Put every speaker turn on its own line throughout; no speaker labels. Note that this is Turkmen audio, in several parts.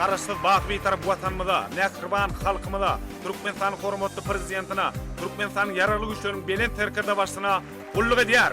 Garaşsyz bak Bitarap Watanymyza, mähriban halkymyza, Türkmenistanyň hormatly Prezidentine, Türkmenistanyň Ýaragly Güýçleriniň Belent Serkerdebaşysyna gulluk edýär!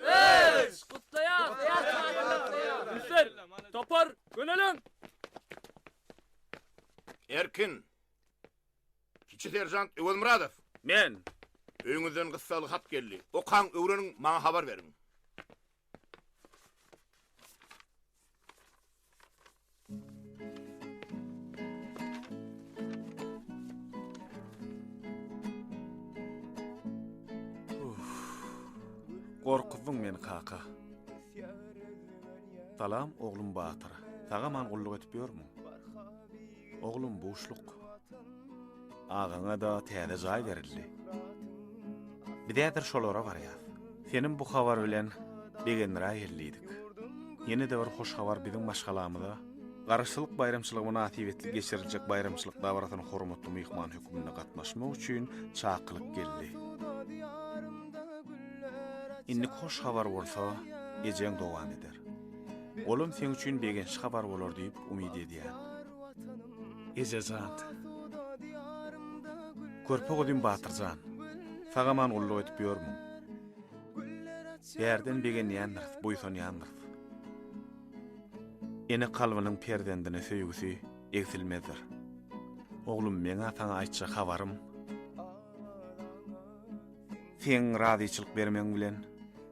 Üç! Gutlaýas! Hüseýin, topar, göneliň! Erkin. Kiçi seržant Öwezmyradow. Men. Öýüňizden gyssagly hat geldi. Okaň, öwreniň, maňa habar beriň. Gorkuzdyň meni kaka. Salam oglum Batyr. Saga man gulluk edip ýörmüň? Oglum buşluk. Agaňada täze jaý berildi. Biz häzir şolara barýas. Senin bu habar bilen begendiräý geldidik. Ýene-de bir hoş habar biziň maşgalamyza Garaşsyzlyk baýramçylygy mynasybetli geçiriljek baýramçylyk dabarasyna hormatly myhman hökmünde gatnaşmak üçin çakylyk geldi. Indik hoş habar bolsa ejeň dowam eder. Olam seň üçin begençli habar bolar diýip umyt edýän. Ejejan. Körpe gyzym Batyrjan. Sagaman gulluk edip ýörmüň. Bärden begenýändiris, buýsanýandyrs. Ene kalbynyň perzendine söýgüsi egsilmezdir. Oglum meňa saňa aýtjak habarym. Seň razyçylyk bermegiň bilen.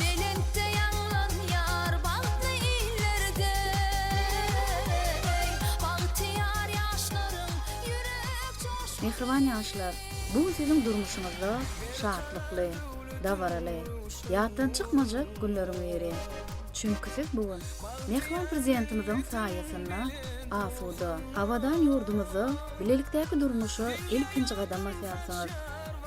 Belentde ýaňlanýar bagtly illerde, eý, bagtyýar ýaşlaryň ýürek joşguny. Mähriban ýaşlar, bu gün siziň durmuşyňyzda şatlykly, dabaraly, ýatdan çykmajak günleriň biri. Çünki siz bu gün mähriban Prezidentimiziň saýasynda asuda, abadan ýurdumyzda bilelikdäki durmuşa ilkinji gadam basýarsyňyz.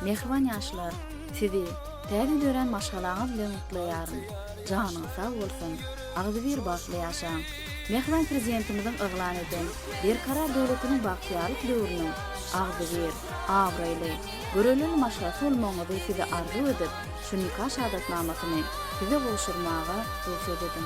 Mähriban ýaşlar! Sizi täze dörän maşgalaňyz bilen gutlaýaryn. Janyňyz sag bolsun, agzybir bagtly ýaşaň! Mähriban Prezidentimiziň yglan eden Berkarar döwletiniň bagtyýarlyk döwrüniň agzybir, abraýly, görelili maşgalasy bolmagyňyzy size arzuw edip, şu nika şahadatnamasyny Size gowşurmaga rugsat ediň.